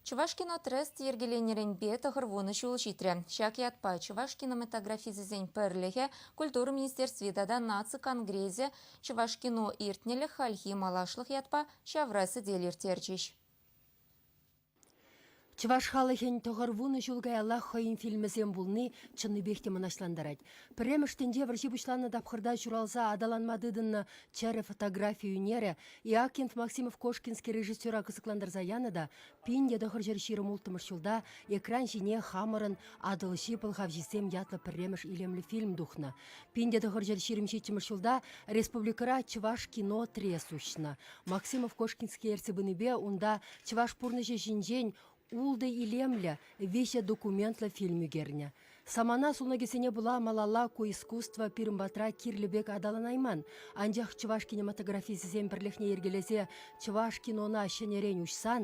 Чӑвашкинотрест йӗркеленӗренпе тӑхӑр вунӑ ҫул ҫитрӗ. Ҫак ятпа чӑваш кинематографисӗсен пӗрлӗхӗ, культура министерстви тата наци конгресӗ Чӑвашкино иртнӗлӗх хальхи малашлӑх ятпа ҫавра сӗтел ирттерчӗҫ. Чӑваш халӑхӗн тӑхӑр вунӑ ҫул каяллах хӑйӗн фильмӗсем пулни чӑннипех те мӑнаҫлантарать. Пӗрремӗш тӗнче вӑрҫи пуҫланнӑ тапхӑрта ҫуралса аталанма тытӑннӑ чӗрӗ фотографи ӳнерӗ Иакинт Максимов Кошкинский режиссера кӑсӑклантарса янӑ та пин те тӑхӑрҫӗр ҫирӗм улттӑмӗш ҫулта экран ҫине хамӑрӑн Атӑлҫи пӑлхавҫисем ятлӑ пӗрремӗш илемлӗ фильм тухнӑ. Пин те тӑхӑрҫӗр ҫирӗм ҫиччӗмӗш ҫулта республикӑра чӑваш кино триес уҫнӑ. Максимов Кошкинский ертсе пынипе унта чӑваш пурнӑҫӗ ҫинчен Ултӑ илемлӗ, виҫӗ документлӑ фильм ӳкернӗ. Самана сунакӗсене пула малалла ку искусство пирӗн патра кирлӗ пек аталанайман, анчах чӑваш кинематографисӗсен пӗрлӗхне йӗркелесе чӑваш кинона ҫӗнӗрен уҫсан,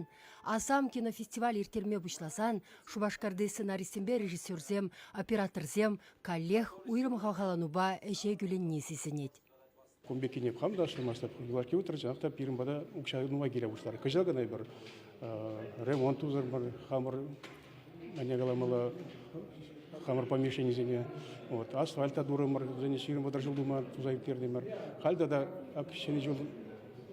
Асам кинофестиваль ирттерме пуҫласан Шупашкарти сценаристсемпе режиссерсем, операторсем каллех уйрӑм хавхаланупа ӗҫе кӳленни сисӗнет. Кун пеккине хам та шырмастӑп. Гладки утрӗччӗ, ах та пирӗн пата укҫа нумай киле пуҫларӗ. Кӑҫал кӑна эпир ремонт тусӑмӑр, хамӑр ӗне каламалла хамӑр помещенисене. Вот, асфальта турӑмӑр, вӗсене ҫирӗм вӑтӑр ҫул тума туса ӳктертӗмӗр. Халь тата ҫӗнӗ ҫул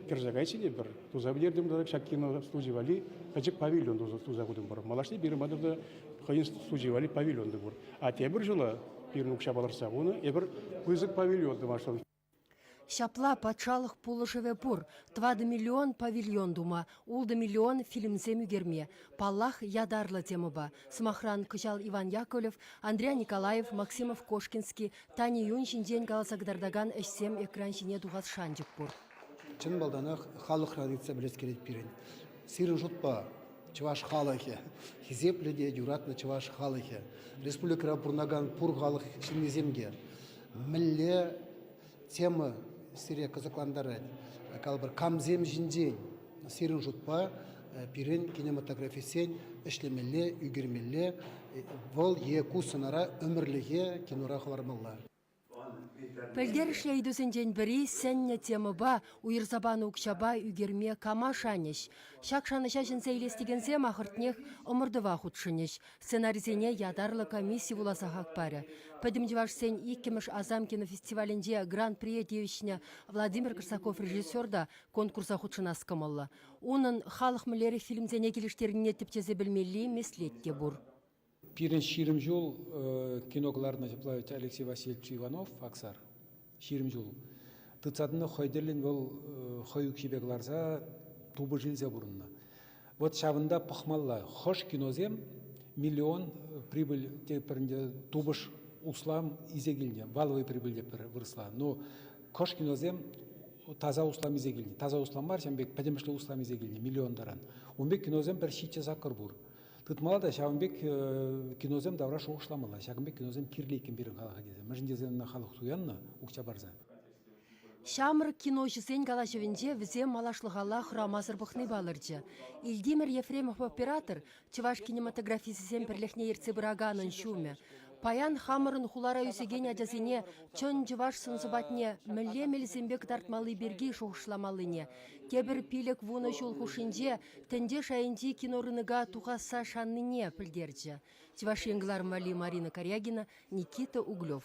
кӗрсе кайчӗ пӗр. Туса пӗтертӗм тата ҫак кино студи валли пӗчӗк павильон туса тутӑмӑр. Малашне пирӗн патӑрта хӑйӗн студи валли павильон те пур. А тепӗр ҫула пирӗн укҫа палӑртса хунӑ эпир пысӑк павильон тӑвасшӑн. Ҫапла патшалӑх пулӑшӑвӗ пур. Тӑватӑ миллион павильон тума, ултӑ миллион фильмсем ӳкерме. Паллах, ятарлӑ темӑпа. Сӑмахран, кӑҫал Иван Яковлев, Андрей Николаев, Максимов-Кошкинский, Тани Юнь ҫинчен каласа кӑтартакан ӗҫсем экран ҫине тухас шанчӑк пур. Чӑн малтанах халӑхран ыйтса пӗлес килет пирӗн. Сирӗн шутпа чӑваш халӑхӗ, хисеплӗ те юратнӑ чӑваш халӑхӗ, республикӑра пурӑнакан пур халӑх ҫыннисем те мӗнле тема сире кӑсӑклантарать? Калӑпӑр, камсем ҫинчен сирӗн шутпа пирӗн кинематографистсен ӗҫлемелле, ӳкермелле, вӑл е ку сӑнара ӗмӗрлӗхе кинора хӑвармалла? Пӗлтерӗшлӗ ыйтусенчен пӗри сӗннӗ темӑпа уйӑрса панӑ укҫапа ӳкерме кама шанӗҫ? Ҫак шанӑҫа ҫӗнсе илес текенсем ахӑртнех ӑмӑртӑва хутшӑнӗҫ. Сценарисене ятарлӑ комисси вуласа хак парӗ. Пӗтӗм чӑвашсен иккӗмӗш Асам кинофестивалӗнче гран-прие тивӗҫнӗ Владимир Корсаков режиссер та конкурса хутшӑнас кӑмӑллӑ. Унӑн халӑх мӗнлерех фильмсене килӗштернине тӗпчесе пӗлмелли меслет те пур. Пирӗн ҫирӗм ҫул кино кӑларнӑ ҫапла Алексей Васильевич Иванов Аксар. Ҫирӗм ҫул. Тытса тӑнӑ хӑй тӗллӗн вӑл хӑй укҫипе кӑларса тупӑш илсе пурӑннӑ. Вот ҫавӑнта пӑхмалла. Хӑш киносем миллион прибыль тепӗринче тупӑш услам исе килнӗ. Валовый прибыль те пӗр вырӑсла. Но хӑш киносем таса услам исе килнӗ. Таса услам мар, ҫавӑн пек пӗтӗмӗшле услам исе килнӗ миллион таран. Ун пек киносем пӗр ҫиччӗ саккӑр пур. Тытмалла та ҫавӑн пек киносем тавра шухӑшламалла. Ҫакӑн пек киносем кирлӗ иккен пирӗн халӑха тесе. Мӗншӗн тесен ӑна халӑх туяннӑ укҫа парса. Ҫамрӑк киноҫӑсен калаҫӑвӗнче вӗсем малашлӑхалла хӑрамасӑр пӑхни палӑрчӗ. Ильдимир Ефремов оператор Чӑваш кинематографисӗсен пӗрлӗхне ертсе пыраканӑн ҫумӗ. Паян хамӑрӑн хулара ӳсекен ачасене чӑн чӑваш сӑн-сӑпатне мӗнле мелсемпе кӑтартмалли пирки шухӑшламаллине, тепӗр пилӗк-вунӑ ҫул хушшинче тӗнче шайӗнчи кинорынка тухасса шаннине пӗлтерчӗ Чӑваш Ен кӑлармалли Марина Корягина, Никита Углев.